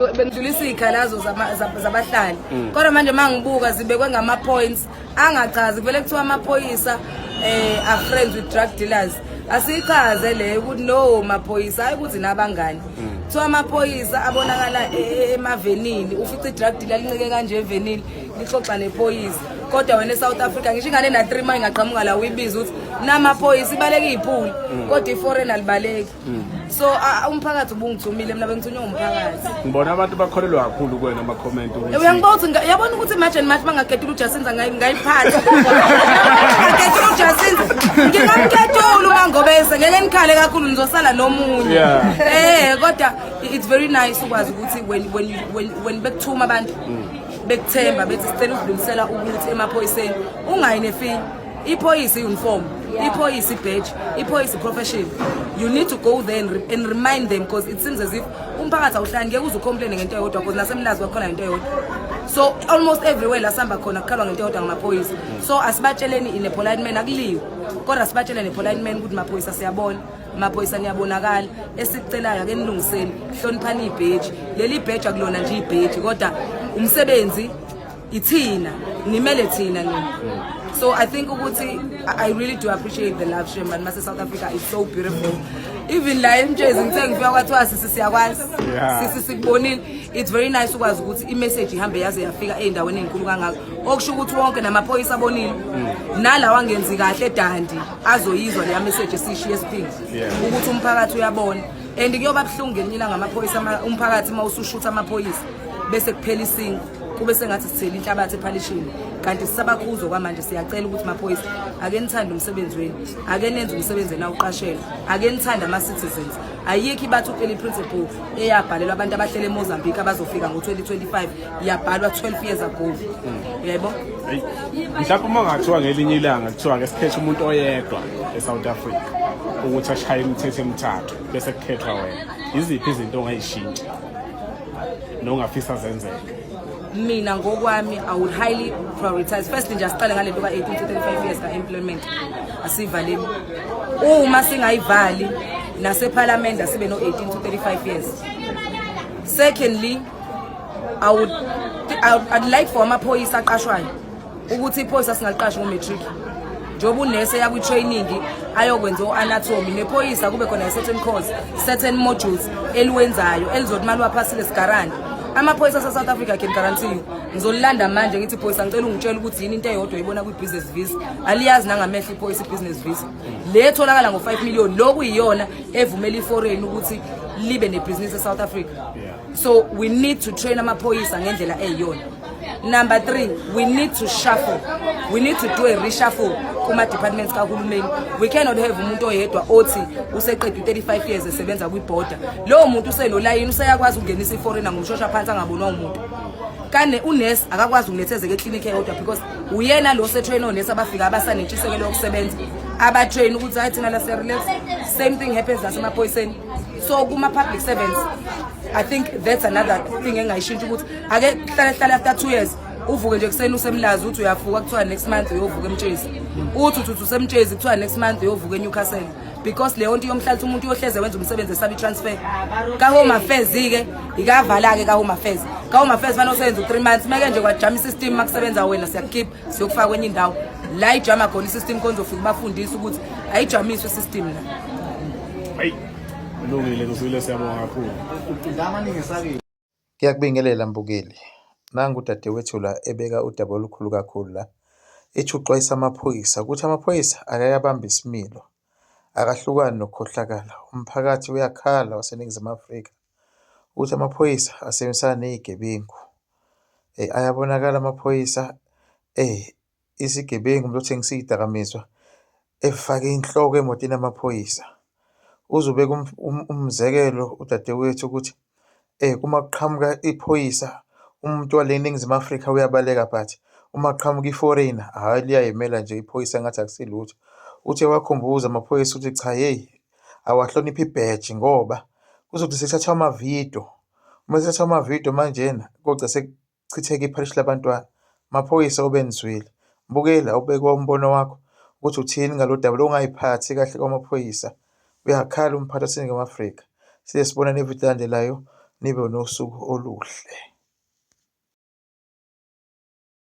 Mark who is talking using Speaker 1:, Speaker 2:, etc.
Speaker 1: bengidlulisa iy'khalazo zabahlali mm. kodwa manje uma ngibuka zibekwe ngama-points angachazi kuvele kuthiwa amaphoyisa um are friends with drug dealers asiyichaze leyo ukuthi no maphoyisa hayi ukuthi nabangani mm. kuthiwa amaphoyisa abonakala e, e, emavenini ufica i-drug dealer lincike kanje evenini lixoxa nephoyisa kodwa wena e-south africa ngisho ingane na-three ma ingaqhamuka la uyibiza ukuthi namaphoyisa ibaleka iy'phuli mm. kodwa iforeign alibaleki Mm. so umphakathi ubungithumile mina bengithunywe ngumphakathi ngibona abantu bakholelwa
Speaker 2: kakhulu kuwena ama-comment uyangibona ukuthi yabona ukuthi
Speaker 1: imagine mathi bangaketula ujasinza ngayiphatha ngaketula ujasinza ngingamketula umangobese ngeke nikhale kakhulu nizosala nomunye eh kodwa it's very nice ukwazi ukuthi when when when when bekuthuma abantu mm. bekuthemba bethi sicela ukudlulisela ukuthi emaphoyiseni ungayi nefini iphoyisa i-uniform iphoyisa i-badge iphoyisa i-profession you need to go there and, re and remind them because it seems as if umphakathi awuhlali ngeke uze ucomplaine ngento eyodwa because nasemlazi kwakhona ngento eyodwa so almost everywhere la sihamba khona kukhalwa ngento eyodwa ngamaphoyisa so asibatsheleni in a polite man akuliwe kodwa sibatsheleni polite man ukuthi maphoyisa siyabona amaphoyisa niyabonakala esikucelayo ake nilungiseni hloniphani ibheji leli bheji akulona nje ibheji kodwa umsebenzi ithina nimele thina nini so i think ukuthi i really do appreciate the love shame and mase south africa is so beautiful even la emjezi ngithe ngifika kwathiwa sisi siyakwazi sisi sikubonile it's very nice ukwazi ukuthi imessage ihambe yaze yafika ey'ndaweni ey'nkulu kangako okusho ukuthi wonke namaphoyisa abonile mm. nalawa angenzi kahle edandi azoyizwa leya message esiyishiye esiphinde ukuthi umphakathi uyabona and kuyoba buhlungu ngelinye ilanga amaphoyisa umphakathi uma usushutha amaphoyisa bese kuphela isingo kube sengathi sithela inhlabathi ephalishini kanti sisabakhuza okwamanje siyacela ukuthi maphoyisa ake nithande umsebenzi wenu ake nenze umsebenzi enawuqashela ake nithande ama-citizens ayikho ibathi u-eli principle eyabhalelwa abantu abahlele emozambique abazofika ngo-2025 yabhalwa 12 years ago hmm. yebo
Speaker 2: mhlawumbe uma ngathiwa ngelinye ilanga kuthiwa ke sikhethe umuntu oyedwa e-south africa ukuthi ashaye imithetho emithathu bese kukhethwa wena yiziphi izinto ongayishintsha nongafisa zenzeke mina
Speaker 1: ngokwami i would highly prioritize first nje asiqale ngalento ka 18 to 35 years ka employment asivaleni uma singayivali nasephalamende asibe no 18 to 35 years secondly i would I'd like for amaphoyisa aqashwayo ukuthi iphoyisa singaliqashi ngo-matric njengoba unese yakwi-training ayokwenza o-anatomy nephoyisa kube khona i-certain course certain modules eliwenzayo elizothi uma liwaphasile sigarante amaphoyisa ase-south africa can guarantee you ngizolilanda manje ngithi phoyisa ngicela ungitshela ukuthi yini into eyodwa ibona kwi-business visa aliyazi nangamehlo iphoyisa i-business visa le tholakala ngo-five million loku yiyona evumela iforeign ukuthi libe nebhizinisi e-south africa so we need to train amaphoyisa ngendlela eyiyona Number three, we need to shuffle. We need to do a reshuffle kuma departments kahulumeni. We cannot have umuntu oyedwa othi useqedwe 35 years esebenza kwi border. Lowo muntu usenolayini useyakwazi ukungenisa iforeigner ngomshosha phansi angabonwa umuntu. Kane unurse akakwazi ukunethezeka eclinic eyodwa because uyena lo setrain onurse abafika abasanentshisekelo yokusebenza. Aba train ukuthi hayi thina la se relax. Same thing happens nasemaphoyiseni. So kuma public servants I think that's another thing engayishintsha ukuthi ake kuhlale hlale after two years uvuke nje kuseni usemlazi uthi uyafuka kuthiwa next month uyovuka emtshezi uthi uthi usemtshezi kuthiwa next month uyovuka enewcastle because leyo nto yomhlalisa umuntu uyohleze wenza umsebenzi esabe i-transfer kahome affairs-ke ikavala-ke kahome affairs kahome affairs fane useyenza u-three months meke nje kwajama i-system uma kusebenza wena siyakukhipha siyokufaka kwenye indawo la ijama khona i-system khona uzofika ubafundise ukuthi ayijamiswe i-system la kulungile
Speaker 2: kusile siyabonga kakhulu
Speaker 3: Ngiyakubingelela mbukeli. Nangu udadewethu la ebeka udaba olukhulu kakhulu la. Ethi uxwayisa amaphoyisa ukuthi amaphoyisa akayabamba isimilo. Akahlukani nokukhohlakala. Umphakathi uyakhala waseNingizimu Afrika ukuthi amaphoyisa asebenzisana nezigebengu. Eh ayabonakala amaphoyisa eh isigebengu umuntu othengisa iy'dakamizwa efake inhloko emotini yamaphoyisa. Uzobeka umzekelo udadewethu ukuthi uma kuqhamuka iphoyisa umuntu wale eNingizimu Afrika uyabaleka but uma kuqhamuka i-foreigner hhayi liyayimela nje iphoyisa ngathi akusilutho. Uthi ewakhumbuza amaphoyisa ukuthi cha hheyi awahloniphe ibheji ngoba kuzothi sekuthathwa amavidiyo, uma kuthathwa amavidiyo manjena kogcina kuchitheke ipharishi labantwana. Maphoyisa obenzwile. Mbukeli awubeke umbono wakho ukuthi uthini ngalodaba lokungayiphathi kahle kwamaphoyisa. Uyakhala umphathi waseNingizimu Afrika. Size sibonane evidini elandelayo. Nibe nosuku oluhle.